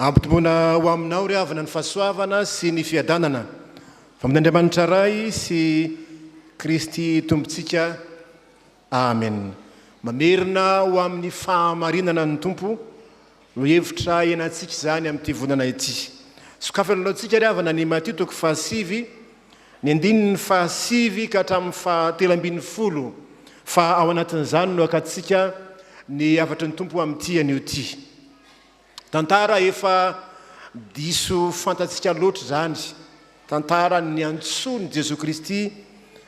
Ampitomboina ho aminao ry havana ny fahasoavana sy ny fiadanana avy amin' Andriamanitra Ray sy Kristy Tompontsika. Amen Mamerina ho amin'ny fahamarinana ny Tompo no hevitra ianantsika izany amin'ity volana ity. Sokafana alohantsika ry havana ny Matio toko fahasivy ny andininy fahasivy ka hatramin'ny fahatelo ambin'ny folo fa ao anatin'izany no hakantsika ny hafatry ny Tompo amin'ity anio ity. Tantara efa diso fantatsika loatra izany, tantara niantsoan'i Jesoa Kristy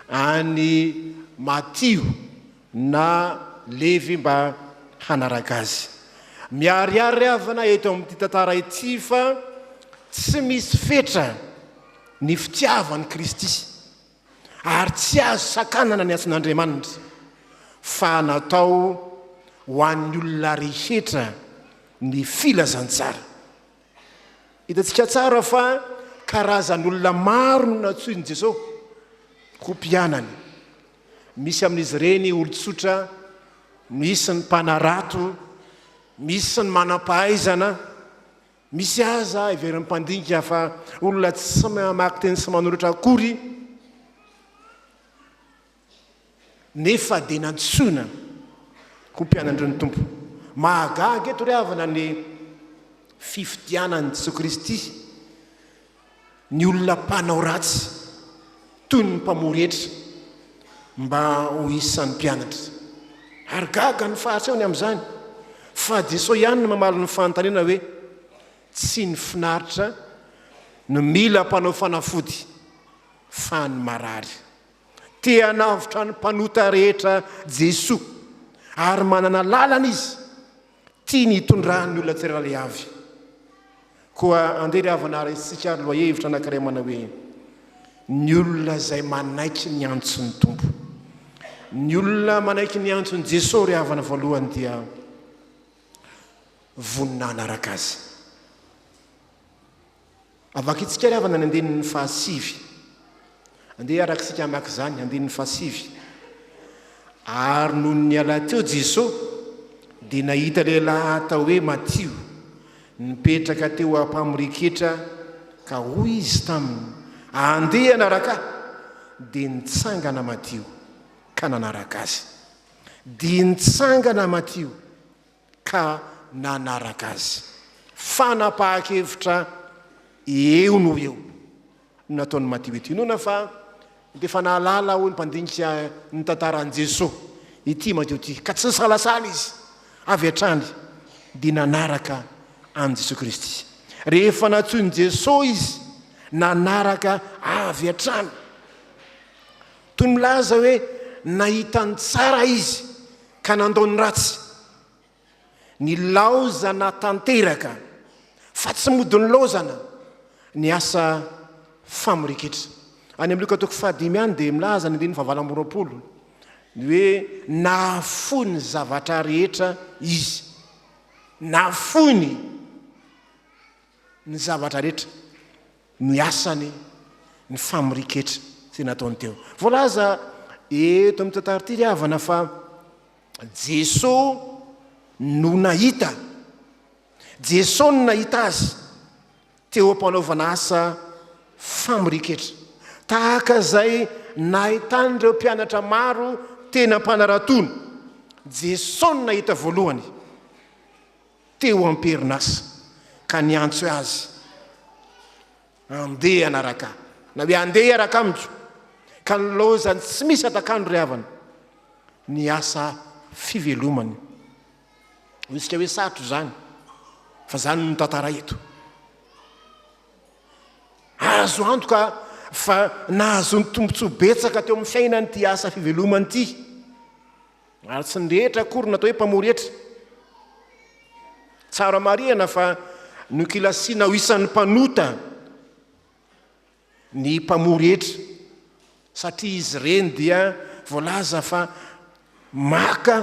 an'i Matio na Levy mba hanaraka Azy. Miharihary havana eto amin'ity tantara ity fa tsy misy fetra ny fitiavan'i Kristy ary tsy azo sakanana ny antson'Andriamanitra fa natao ho an'ny olona rehetra ny filazantsara. Hitantsika tsara fa karazan'olona maro no nantsoin'i Jesosy ho mpianany. Misy amin'izy ireny olon-tsotra, misy ny mpanarato, misy ny manam-pahaizana, Misy aza heverin'ny mpandinika fa olona tsy mamaky teny sy manoratra akory, nefa dia nantsoina ho mpianatry ny Tompo. Mahagaga eto ry havana ny fifidianan'i Jesoa Kristy ny olona mpanao ratsy toy ny mpamoha rehetra mba ho isan'ny mpianatra. Ary gaga ny Fariseony amin'izany, fa Jesosy ihany no mamaly ny fanontaniana hoe, Tsy ny finaritra no mila mpanao fanafody, fa ny marary. Te hanavotra ny mpanota rehetra Jesosy, ary manana lalana Izy Tiany hitondra ny olona tsirairay avy. Koa andeha ry havana raisintsika ary lohahevitra anankiray manao hoe Ny olona izay manaiky ny antson'ny Tompo. Ny olona manaiky ny antson'i Jesoa ry havana voalohany dia vonona hanaraka Azy. Avakitsika ry havana ny andininy fahasivy. Andeha araka isika hamaky izany, andininy fahasivy. Ary nony niala teo Jesoa, dia nahita lehilahy atao hoe Matio, nipetraka teo am-pamoriketra, ka hoy izy taminy, Andeha hanaraka ahy. Dia nitsangana Matio, ka nanaraka azy. Dia nitsangana Matio. ka nanaraka azy. Fanapahan-kevitra eo no ho eo no nataon'i Matioety. Inoana fa dia efa nahalala, hoy ny mpandinika ny tantaran'i Jesoa, ity Matio ity, ka tsy nisalasala izy. Avy hatrany dia nanaraka an'i Jesoa Kristy. Rehefa nantsoin'i Jesoa izy, nanaraka avy hatrany. Toy ny milaza hoe nahita ny tsara izy ka nandao ny ratsy. Nilaozana tanteraka, fa tsy mody nilaozana, ny asa famorian-ketra. Any amin'ny Lioka toko fahadimy any dia milaza ny andininy fahavalo amby roapolo ny hoe nahafoy ny zavatra rehetra izy. Nahafoy ny ny zavatra rehetra. ny asany ny famoriketra zay nataony teo voalaza eto amin'ny tantara ity ry havana fa jesosy no nahita jesosy no nahita azy teo am-panaovana asa famoriketra tahaka izay nahitany ireo mpianatra maro tena mpanaratono jesosy no nahita voalohany teo am-perinasa ka niantso azy handeha hianaraka na hoe andeha hiaraka amiko ka nilaozany tsy misy atak'andro ry havana ny asa fivelomany. Hoy hoe sarotra izany fa izany no tantara eto. Azo antoka fa nahazoany tombontsoa betsaka teo amin'ny fiainany ity asa fivelomany ity. Ary tsy ny rehetra akory no atao hoe mpamory hetra. Tsara marihana fa nokilasiana ho isan'ny mpanota ny mpamory hetra satria izy ireny dia voalaza fa maka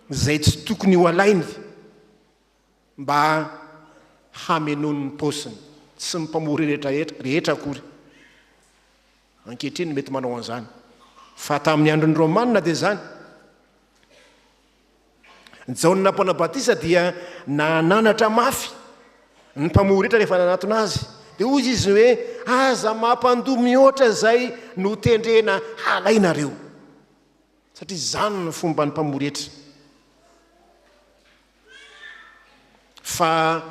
izay tsy tokony ho alainy. mba hamenoany ny paosiny. Tsy ny mpamory rehetrarehetra rehetra akory ankehitriny no mety manao an'izany, fa tamin'ny andron'ny Romana dia izany. Jaona Mpanabatisa dia nananatra mafy ny mpamory rehetra rehefa nanatona azy. Dia hoy izy hoe, aza mampandoa mihoatra izay notendrena halainareo. Satria izany ny fomban'ny mpamory hetra. Fa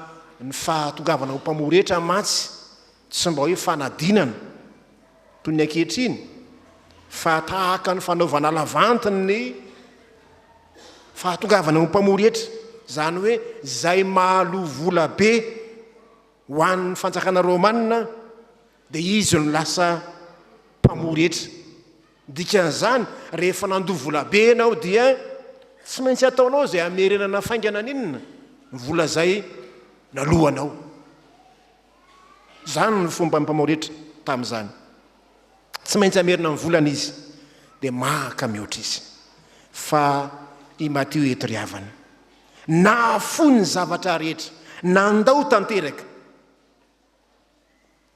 ny fahatongavana ho mpamory hetra mantsy tsy mba hoe fanadinana toy ny ankehitriny fa tahaka ny fanaovana lavanty ny fahatongavana ho mpamory hetra, izany hoe izay mahaloa vola be ho an'ny fanjakana romanina dia izy no lasa mpamory hetra. Ny dikan'izany, rehefa nandoa volabe ianao dia tsy maintsy ataonao izay hamerenana faingana an'inona ny vola izay naloanao. Izany no fomban'ny mpamauretra tamin'izany. Tsy maintsy hamerina ny volany izy, dia maka mihoatra izy. Fa i Matio eto ry havana, nahafoy ny zavatra rehetra, nandao tanteraka.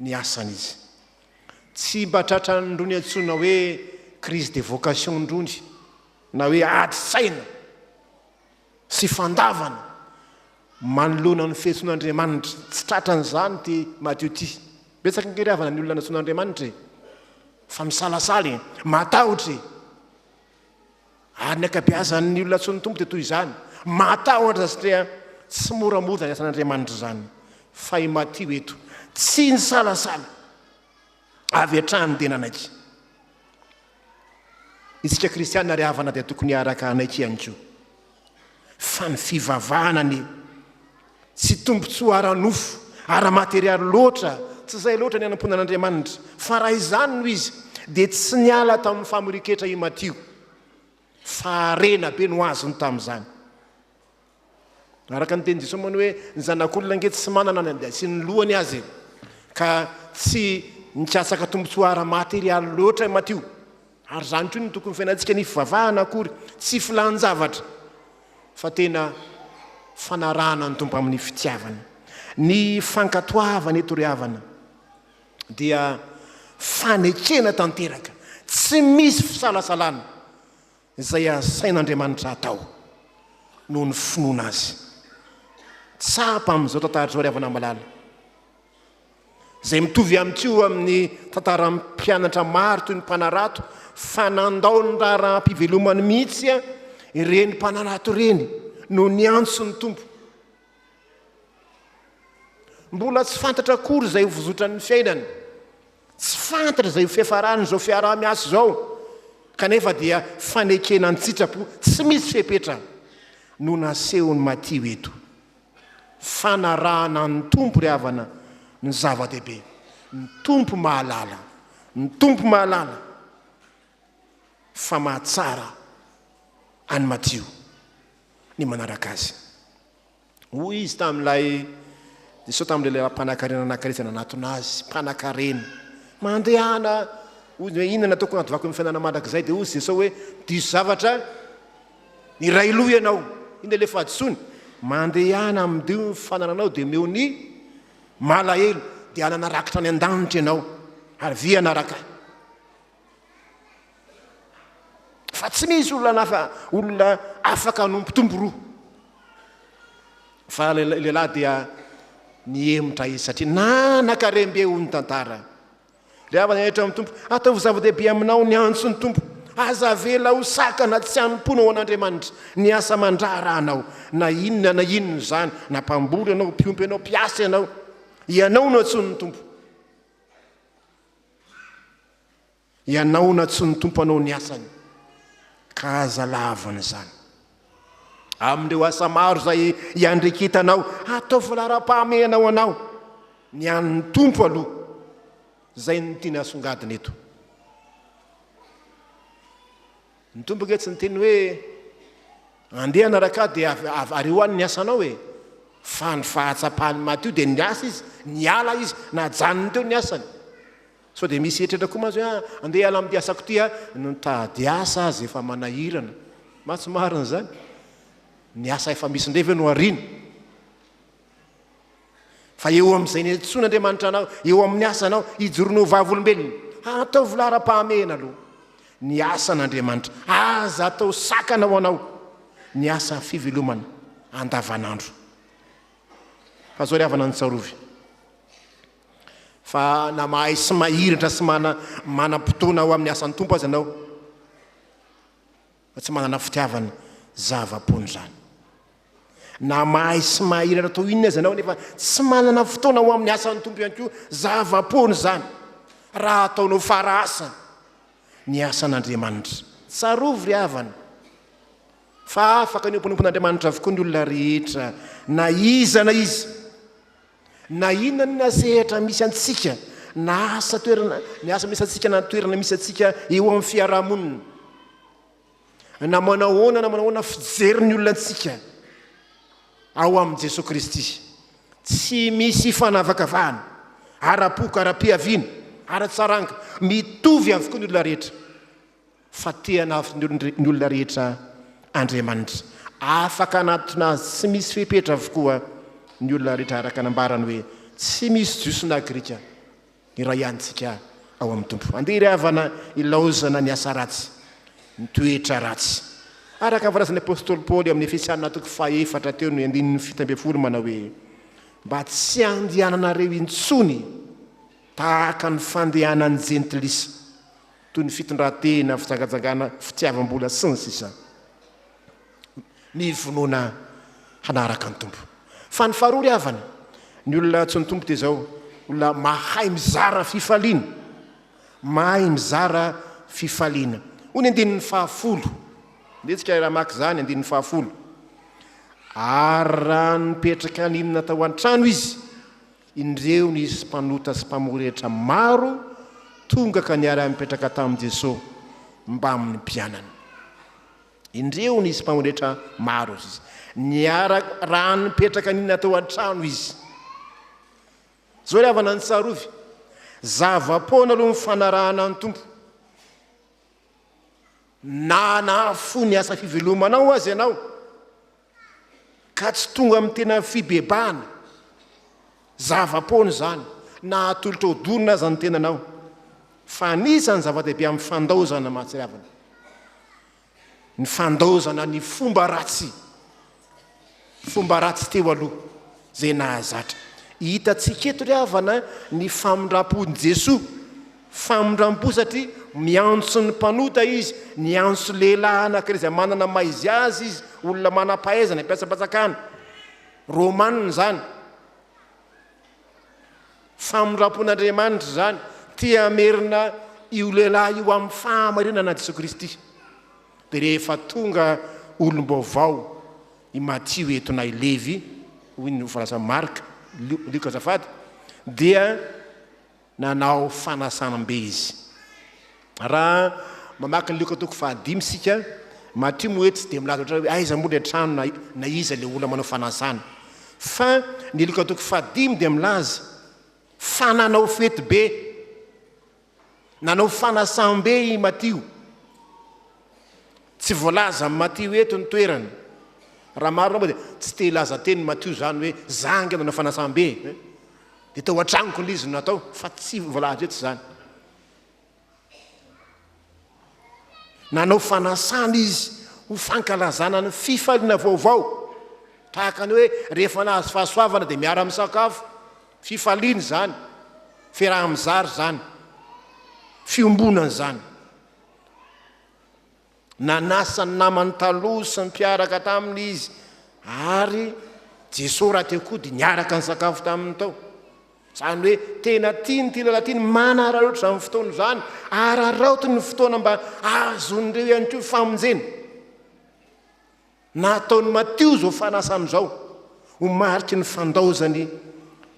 ny asany izy. Tsy mba tratran'irony antsoina hoe crise de vocation irony na hoe adin-tsaina sy fandavana manoloana ny fiantsoan'Andriamanitra. Tsy tratran'izany ity Matio ity. Betsaka ange ry havana ny olona nantsoin'Andriamanitra e! Fa misalasala e! Matahotra e! Ary ny ankabeazan' ny olona antsoin' ny Tompo dia toy izany. Mahatahotra satria tsy mora moa izany asan' Andriamanitra izany. Fa i Matio eto tsy nisalasala, avy hatrany dia nanaiky. Isika kristiana ry havana dia tokony hiaraka hanaiky ihany koa. Fa ny fivavahana anie tsy tombontsoa ara-nofo, ara-materialy loatra, tsy izay loatra ny hanompoana an'Andriamanitra. Fa raha izany no izy, dia tsy niala tamin'ny famorian-ketra i Matio, fa harena be no azony tamin'izany. Araka ny tenin'i Jesoa moa ny hoe ny zanak'olona ange tsy manana ny andeha sy ny lohany aza e. Ka tsy nikatsaka tombontsoa ara-materialy loatra i Matio. Ary izany koa no tokony fiainantsika, ny fivavahana akory tsy filàn-javatra fa tena fanarahana ny Tompo amin'ny fitiavana. Ny fankatoavana eto ry havana dia fanekena tanteraka, tsy misy fisalasalana izay asain'Andriamanitra atao noho ny finoana Azy. Tsapa amin'izao tantara izao ry havana malala. izay mitovy amin'ny tsy ho amin'ny tantaran'ny mpianatra maro toy ny mpanarato fa nandao ny raharaham-pivelomany mihitsy a ireny mpanarato ireny no niantso ny tompo mbola tsy fantatra akory izay ho vozotran'ny fiainany tsy fantatra izay ho fiafarany izao fiaraha-miasa izao kanefa dia fanekena an-tsitrapo tsy misy fepetra no nasehon'ny matio eto Fanarahana ny Tompo ry havana no zava-dehibe. Ny Tompo mahalala. Ny Tompo mahalala fa mahatsara an'i Matio ny manaraka Azy. Hoy Izy tamin'ilay, Jesosy tamin'ilay lehilahy mpanankarena nanakary izay nanatona Azy, mpanankarena. Mandehana, hoy Izy hoe, inona no ataoko hanadovako ny fiainana mandrakizay? Dia hoy Jesosy hoe, diso zavatra Miray loha ianao, iny ilay fahadisoany, mandehana amin'dio ny fanananao dia omeo ny malahelo dia hanana rakitra any an-danitra ianao ary vy hanaraka ahy. Fa tsy misy olona nafa olona afaka hanompo tompo roa. Fa lehilahy dia nihemotra izy satria nanakarem-be hoy ny tantara. Ry havana rehetra amin'ny Tompo, ataovy zava-dehibe aminao ny antso ny Tompo. Aza avela ho sakana tsy hanompoana ho an'Andriamanitra ny asa aman-draharahanao, na inona na inona izany, na mpamboly ianao, mpiompy ianao, mpiasa ianao. Ianao no antsoin'ny Tompo. Ianao no antsoin'ny Tompo hanao ny asany, ka aza lavan'izany. Amin'ireo asa maro izay iandrikitanao, ataovy laharam-pahamehana ho anao ny an'ny Tompo aloha. Izay no tiany hasongadina eto. Ny Tompo ange tsy niteny hoe andeha anaraka ahy dia ary ho any ny asanao e. Fa ny fahatsapany madio dia niasa izy, niala izy, najanony teo ny asany. Sao dia misy eritreritra koa mantsy hoe ah, andeha hiala amin'ity asako ity aho, no nitady asa aza efa manahirana. Mah tsy marina izany? Ny asa efa misy indray ve no ariana? Fa eo amin'izay niantsoana Andriamanitra anao, eo amin'ny asanao, hijoroana ho vavolombelona. Ataovy laharam-pahamehana aloha ny asan'Andriamanitra. Aza atao sakana ho anao ny asa fivelomana andavanandro. Fa izao ry havana ny tsarovy. Fa na mahay sy mahiratra sy mana manam-potoana ao amin'ny asan'ny Tompo aza ianao, fa tsy manana fitiavana zava-poana izany. Na mahay sy mahiratra toy inona aza ianao nefa tsy manana fotoana ho amin'ny asan'ny Tompo ihany koa, zava-poana izany raha ataonao fara asa ny asan'Andriamanitra. Tsarovy ry havana fa afaka ny ho mpanompon'Andriamanitra avokoa ny olona rehetra na iza na iza. Na inona na inona sehatra misy antsika, na asa toerana, ny asa misy antsika na ny toerana misy antsika eo amin'ny fiarahamonina, na manao ahoana na manao ahoana fijery ny olona antsika ao amin'i Jesoa Kristy, tsy misy fanavakavahana ara-poko, ara-piaviana, ara-tsaranga, mitovy avokoa ny olona rehetra. Fa te hanafy ny olona rehetra Andriamanitra. Afaka hanatona Azy tsy misy fepetra avokoa ny olona rehetra araka ny ambarany hoe tsy misy Jiosy na Grika, iray ihany isika ao amin'ny Tompo. Andeha ry havana ilaozana ny asa ratsy, ny toetra ratsy. Araka ny voalazan'ny apostoly Paoly ao amin'ny Efesiana toko fahefatra teo ny andininy fito ambin'ny folo manao hoe mba tsy handehananareo intsony tahaka ny fandehanan'ny jentilisa. toy ny fitondran-tena, fijangajangana, fitiavam-bola, sy ny sisa Mivonoana hanaraka ny Tompo. Fa ny faharoa ry havana, ny olona antsoin'ny Tompo dia izao, olona mahay mizara fifaliana, mahay mizara fifaliana. Hoy ny andininy fahafolo, mihetsika raha maka izany, andininy fahafolo, Ary raha nipetraka nino natao an-trano izy, Indreo nisy mpanota sy mpamory hetra maro tonga ka niara-nipetraka tamin'i Jesosy mbamin'ny mpianany. Indreo nisy mpamory hetra maro izy. Niara raha nipetraka nina tao an-trano izy. Zao ry havana nitsarovy, zava-poana aloha ny fanarahana ny Tompo. Na nahafoy ny asa fivelomanao aza ianao, ka tsy tonga amin'ny tena fibebahana, zava-poana izany na hatolotra ho dorana aza ny tenanao, fa anisan'ny zava-dehibe amin'ny fandaozana mahatsiravina ny fandaozana ny fomba ratsy, fomba ratsy teo aloha izay nahazatra. Hitantsika eto ry havana ny famindram-pon'i Jesoa. Famindrampo satria miantso ny mpanota izy, niantso lehilahy anankiray izay manana ny maha izy azy izy, olona manam-pahaizana, mpiasam-panjakana romanina izany. Famindrampon'Andriamanitra izany, te hamerina io lehilahy io amin'ny fahamarinana an'i Jesoa Kristy. Dia rehefa tonga olom-baovao i Matio eto na i Levy, hoy ny voalazan'i Marka, Lioka azafady, dia. Nanao fanasanam-be izy. Raha mamaky ny Lioka toko fahadimy isika, Matio moa eto tsy dia milaza ohatran'ny hoe aiza moa ilay trano na na iza ilay olona manao fanasana. Fa ny Lioka toko fahadimy dia milaza fa nanao fetibe, nanao fanasam-be i Matio. Tsy voalaza amin'i Matio eto ny toerany. Raha marina moa dia tsy te hilaza tenin'i Matio izany hoe izaho ange nanao fanasam-be, eh? dia tao an-tranoko ilay izy no natao, fa tsy voalaza eto izany. Nanao fanasana izy ho fankalazana ny fifaliana vaovao, tahaka ny hoe rehefa nahazo fahasoavana dia miara-misakafo, fifaliana izany, fiaraha-mizara izany, fiombonana izany. Nanasa ny namany taloha sy ny mpiaraka taminy izy, ary Jesoa raha teo koa dia niaraka nisakafo taminy tao. Izany hoe tena tiany ity lehilahy ity ny manararaotra izany fotoana izany, araraotiny ny fotoana mba ahazoan'ireo ihany koa famonjena. na ataon'i Matio izao fanasana izao ho mariky ny fandaozany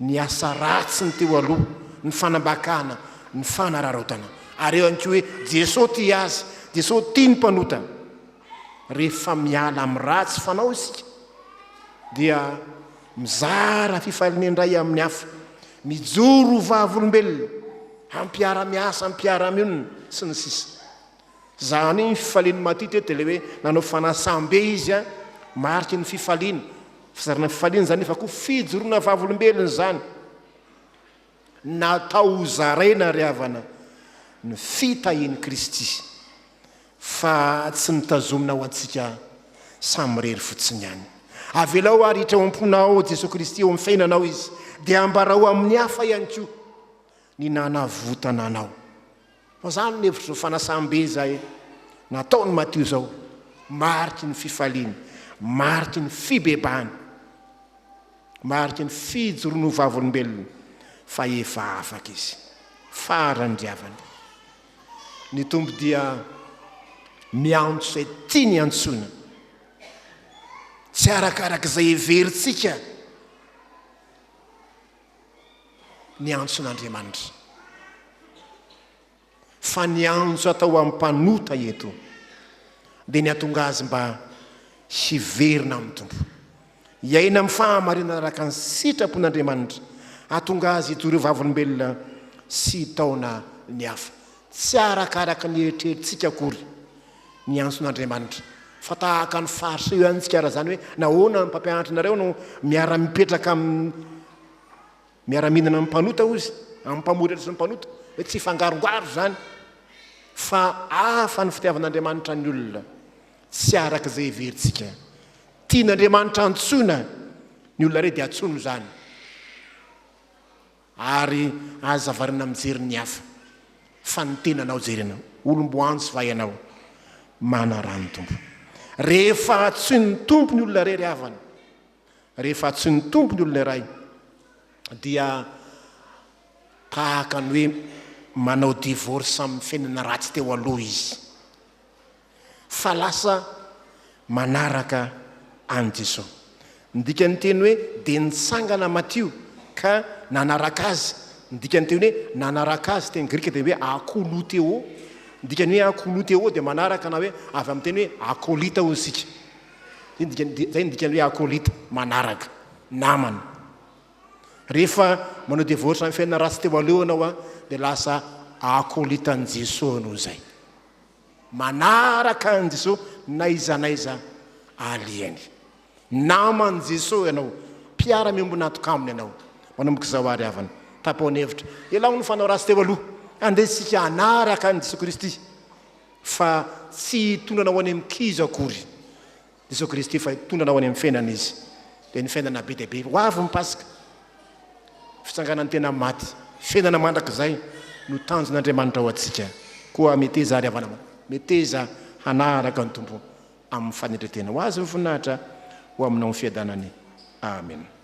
ny asa ratsiny teo aloha, ny fanambakana, ny fanararaotana. Ary eo ihany koa hoe Jesoa tia azy, Jesoa tia ny mpanota. Rehefa miala amin'ny ratsy fanao isika dia mizara fifaliana indray amin'ny hafa, mijoro ho vavolombelona, hampiara-miasa, mpiara-mionona, sy ny sisa Zany ny fifalian'i Matio teto dia ilay hoe nanao fanasam-be izy an, mariky ny fifaliana, fizarana ny fifaliana izany nefa koa fijoroana vavolombelona izany. Natao ho zaraina ry havana ny fitahian'i Kristy fa tsy mitazomina ho antsika samirery fotsiny ihany. Avelao ary hiditra ao am-ponao Jesoa Kristy eo amin'ny fiainanao Izy dia ambarao amin'ny hafa ihany koa ny nanavotana anao. Fa zany ny hevitr'izao fanasam-be izay nataon'i Matio izao, mariky ny fifaliany, mariky ny fibebahany, mariky ny fijoroany ho vavolombelona fa efa afaka izy, faran'ny diavany. Ny Tompo dia miantso izay tiany iantsoana, tsy arakarak'izay heverintsika. ny antson'Andriamanitra. Fa ny antso atao amin'ny mpanota eto dia ny hatonga azy mba hiverina amin'ny Tompo, hiaina amin'ny fahamarinana araka ny sitrapon'Andriamanitra, hatonga azy hitory ho vavolombelona sy hitaona ny hafa, tsy arakaraka ny eritreritsika akory, Miantso n'Andriamanitra. Fa tahaka ny farce io ihany tsikara zany hoe nahoana ny mpampianatra nareo no miara mipetraka amin'ny miara mihinana amin'ny mpanota hozy amin'ny mpamoritra sy ny mpanota hoe tsy hifangarongaro zany fa hafa ny fitiavan'Andriamanitra ny olona tsy araka izay heverintsika tian'Andriamanitra antsoina ny olona re dia antsono zany Ary aza variana mijery ny hafa fa ny tenanao jerena. Olom-boanjo va ianao? Manaraha ny Tompo. Rehefa antsoin'ny Tompo ny olona irery havana, rehefa antsoin'ny Tompo ny olona iray dia tahaka ny hoe manao divorce amin'ny fiainana ratsy teo aloha izy. fa lasa manaraka an'i Jesosy. Ny dikan'ny teny hoe dia nitsangana Matio ka nanaraka Azy, ny dikan'ny teny hoe nanaraka Azy teny grika dia hoe akoloutheo, ny dikan'ny hoe akoloutheo dia manaraka na hoe avy amin'ny teny hoe akolita hoy isika, izay ny dikany, izay ny dikan'ny hoe akolita, manaraka, namana. Rehefa manao devotion amin'ny fiainana ratsy teo aloha ianao dia lasa akolitan'i Jesosy noho izay. Manaraka an'i Jesoa n'aiza n'aiza alihany. Naman'i Jesoa ianao, mpiara-miombon'antoka Aminy ianao. Manomboka izao àry havana, tapao ny hevitra, elaho ny fanao ratsy teo aloha. Andeha isika hanaraka an'i Jesoa Kristy, fa tsy hitondra anao any amin'ny kizo akory. Jesoa Kristy efa hitondra anao any amin'ny fiainana Izy. Dia ny fiainana be dia be. Ho avy ny Paska. Fitsanganan'ny tena amin'ny maty. Fiainana mandrakizay no tanjon'Andriamanitra ho antsika. Koa meteza àry havana, meteza hanaraka ny Tompo amin'ny fanetren-tena. Ho Azy ny voninahitra, ho aminao ny fiadanany. Amena.